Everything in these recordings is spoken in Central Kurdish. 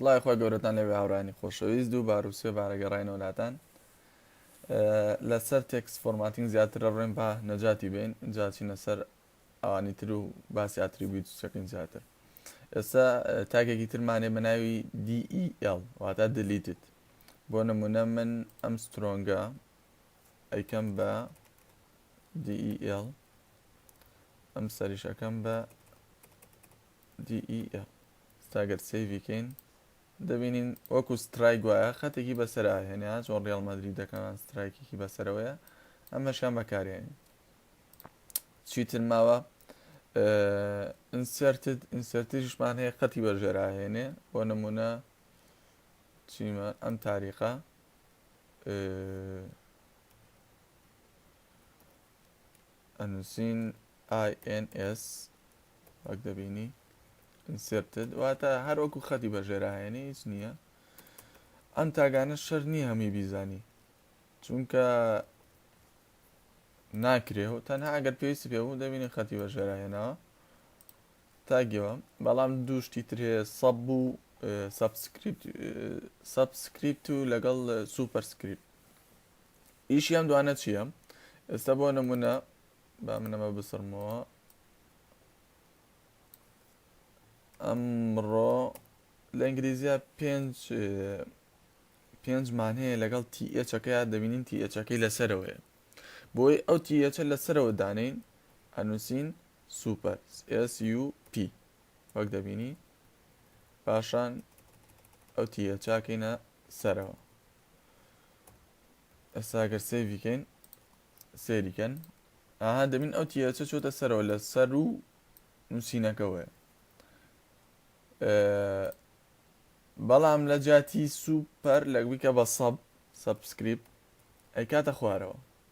سڵای خۆی گەورەتان لەوێ هاورانی خۆشەویست دوو بار و سێ بارە گەڕینەوە لاتان لەسەر تێکس فۆرماتنگ زیاترە ڕێن با نەجاتی بین جاچینە سەر ئەوانی تر و باسی ئاتریبیوت سەکەین زیاتر ئێستا تاکێکی ترمانێ بە ناوی DEL واتە دلیتت بۆ نمونە من ئەم سترۆنگە ئەیکەم بە DEL ئەم سەریش ئەکەم بە DEL ستاگەر سەیڤی کەین دەبینین وەکو سترای گوایە خەتێکی بەسەرا هێنە چۆن ڕیال مەدرری دەکەمان سترایکێکی بەسەرەوەیە ئەمەشیان بەکارێنین چیتر ماوە ئینسرتد ئینسرتیشمان هەیە قەتی بەژێراهێنێ بۆ نمونە چیمە ئەم تاریخە ئەنووسین INS وەک دەبینی ئینسرتد واتە هەر وەکو خەتی بەژێراهێنی هیچ نییە ئەم تاگانە شەر نییە هەمی بیزانی چونکە ناکرێ و تەنها ئەگەر پێویستی پێ بوو دەبینی خەتی بەژێراهێنەوە تاگەوە بەڵام دوو شتی تر هەیە سەب و سەبسکریپت سەبسکریپت و لەگەڵ سوپەرسکریپت ئیشی ئەم دوانە چییە ئێستا بۆ نمونە با منەمە بسڕمەوە ئەمڕۆ لە ئینگلیزیە پێنج پێنجمان هەیە لەگەڵ تیئچەکەی دەبینین تیئچەکەی لەسەرەوەیە بۆی ئەو تیئچە لەسەرەوە دانین ئەنووسین سوپەر SUP وەک دەبینی پاشان ئەو تیرە چاکەینە سەرەوە ئێستا گەر سێوی کەین سێریکەن ئاها دەبین ئەو تیرەچە چۆتە سەرەوە لە سەر و نووسینەکەوەیە بەڵام لە جاتی سوپەر لەگویکە بە سەب سەبسکریپ ئەی کاتە خوارەوە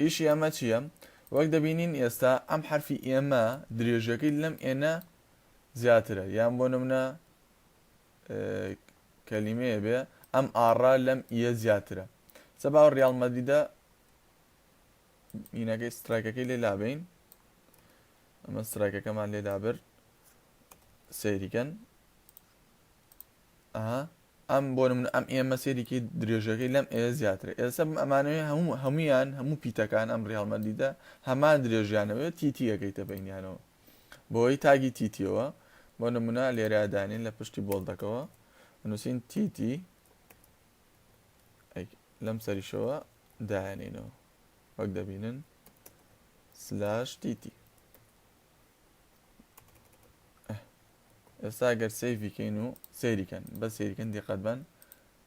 ئیشی ئەمە چییە؟ وەک دەبینین ئێستا ئەم حەرفی ئێمە درێژیەکەی لەم ئێنە زیاترە یان بۆ نمونە کەلیمەیە بێ ئەم ئاڕا لەم ئیە زیاترە سە باو ریال مەدیدە مینەکەی سترایکەکەی لێ لابین ئەمە سترایکەکەمان لێ لابرد سەیریکەن ئەها ئەم بۆ نمونە ئەم ئێمە سێریکەی درێژەکەی لەم ئێ زیاترە ئێستا بم ئەمانەوێ هەموو هەمویان هەموو پیتەکان ئەم ڕیاڵ مەدیدە هەمان درێژیانەوەێت تیتیەکەیتە بینیانەوە بۆی تاگی تیتیەوە بۆ نمونە لێرە دانین لە پشتی بۆڵدەکەەوە نووسین تیتی لەم سەریشەوە دایانینەوە وەک دەبینن سلاش تیتی ئێستا گەر سیفی کەین و سەیریکەن بە سەیریکەن دیقەت بن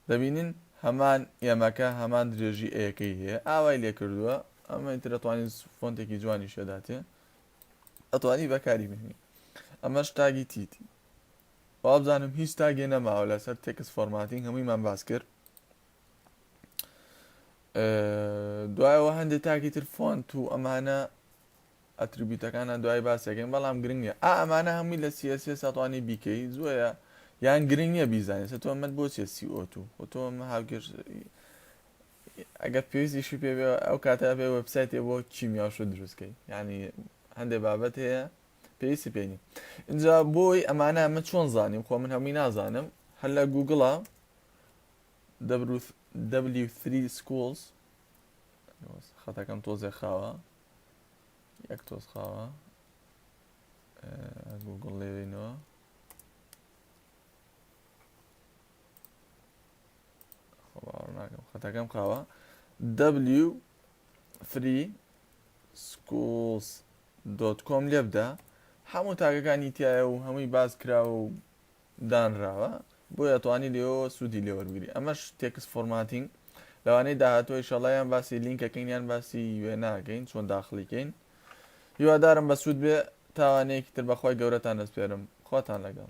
دەبینین هەمان ئێمەکە هەمان درێژی ئەیەکەی هەیە ئاوای لێ کردووە ئەمە ترەتوانین فۆنتێکی جوانی شێداتێ ئەتوانی بەکاری بهێنی ئەمە شتاگی تیتی وابزانم هیچ تاگێ نەماوە لەسەر تێکس فۆرماتین هەموویمان باس کرد دوایەوە هەندێک تاکی تر فۆنت و ئەمانە ئەتروبیتەکانە دوای باسیەکەین بەڵام گرنگ نیە ئا ئەمانە هەمووی لە سی ئێس ئێس ئەتوانی بیکەی زۆیە یان گرنگ نیە بیزانێت سە تۆ مەت بۆ چێت سی ئۆتو خۆ تۆ هاوکێش ئەگەر پێویستیشی پێ ئەو کاتە بێ وەبسایتێ بۆ کیمیاش و دروستکەی ینی هەندێ بابەت هەیە پێویستی پێنی اینجا بۆی ئەمانە من چۆن زانیم خۆ من هەمووی نازانم هەر لە گوگڵە W3 schools خەتەکەم تۆزێ خاوە یەک تۆز قاوە گوگڵ لێوینەوە خەتەکەم قاوە دبلیو فری سکوڵس دۆت کۆم لێبدا هەموو تاگەکانی تایە و هەمووی باز کراوە و دانراوە بۆیە توانی لێوەوە سودی لێ وەربگری ئەمەش تێکست فۆرماتینگ لەوانەی داهاتوە ئیشەڵا یان باسی لینکەکەین یان باسی وێناکەین چۆن داخڵیکەین هیوادارم بەسود بێ تاوانەیەکی تر بەخوای گەورەتان دەسپێرم خواتان لەگەڵ.